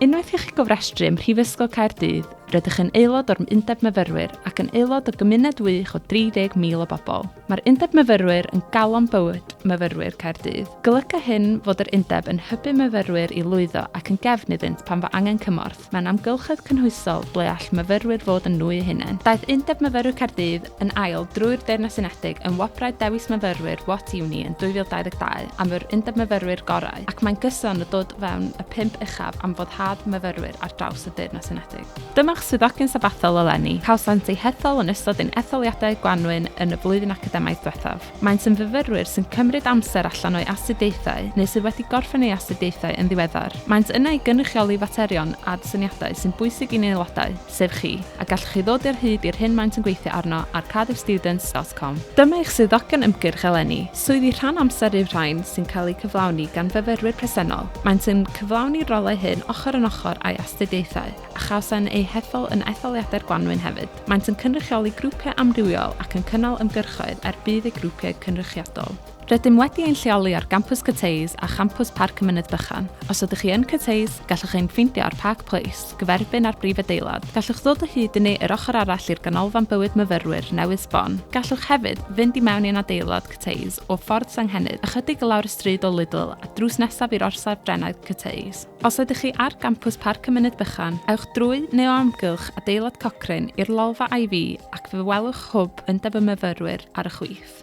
Unwaith i chi gofrestru ym Mhrifysgol Caerdydd, rydych yn aelod o'r Undeb Myfyrwyr ac yn aelod o gymuned wych o 30,000 o bobl. Mae'r Undeb Myfyrwyr yn galon bywyd myfyrwyr Caerdydd. Golyga hyn fod yr Undeb yn hybu myfyrwyr i lwyddo ac yn gefn iddynt pan fo angen cymorth mewn amgylchedd cynhwysol ble all myfyrwyr fod yn nhw eu hunain. Daeth Undeb Myfyrwyr Caerdydd yn ail drwy'r Deyrnas Unedig yn Wobrau Dewis Myfyrwyr What Uni yn 2022 am yr Undeb Myfyrwyr gorau ac mae'n gyson o dod fewn y pump uchaf am foddhad myfyrwyr ar draws y Deyrnas Unedig. Dyma'ch swyddogion sabathol eleni. Cawsant eu hethol yn ystod ein etholiadau gwanwyn yn y flwyddyn academaidd ddiwethaf. Maent yn fyfyrwyr sy'n cymryd amser allan o'u astudiaethau neu sydd wedi gorffen eu astudiaethau yn ddiweddar. Maent yna i gynrychioli faterion ad syniadau sy'n bwysig i'n aelodau, sef chi, a gallwch chi ddod ar hyd i'r hyn maent yn gweithio arno ar cardiffstudents.com. Dyma eich swyddogion ymgyrch eleni. Swyddi rhan amser yw'r rhain sy'n cael eu cyflawni gan fyfyrwyr presennol. Maent yn cyflawni'r rolau hyn ochr yn ochr â'u astudiaethau, a chawsen eu hethol yn etholiadau'r gwanwyn hefyd. Maent yn cynrychioli grwpiau amrywiol ac yn cynnal ymgyrchoedd er budd eu grwpiau cynrychiadol. Rydym wedi ein lleoli ar Gampws Cyteus a Champws Parc y Mynydd Bychan. Os ydych chi yn Cyteus, gallwch ein ffeindio ar Park Place, gyferbyn â'r brif adeilad. Gallwch ddod o hyd i ni yr ochr arall i'r Ganolfan Bywyd Myfyrwyr newydd sbon. Gallwch hefyd fynd i mewn i'n adeilad Cyteus o Ffordd Senghennydd, ychydig i lawr y stryd o Lidl a drws nesaf i'r Orsaf Drenau Cyteus. Os ydych chi ar Gampws Parc y Mynydd Bychan, ewch drwy neu o amgylch adeilad Cochrane i'r lolfa Ivy ac fe welwch hwb undeb y myfyrwyr ar y chwith.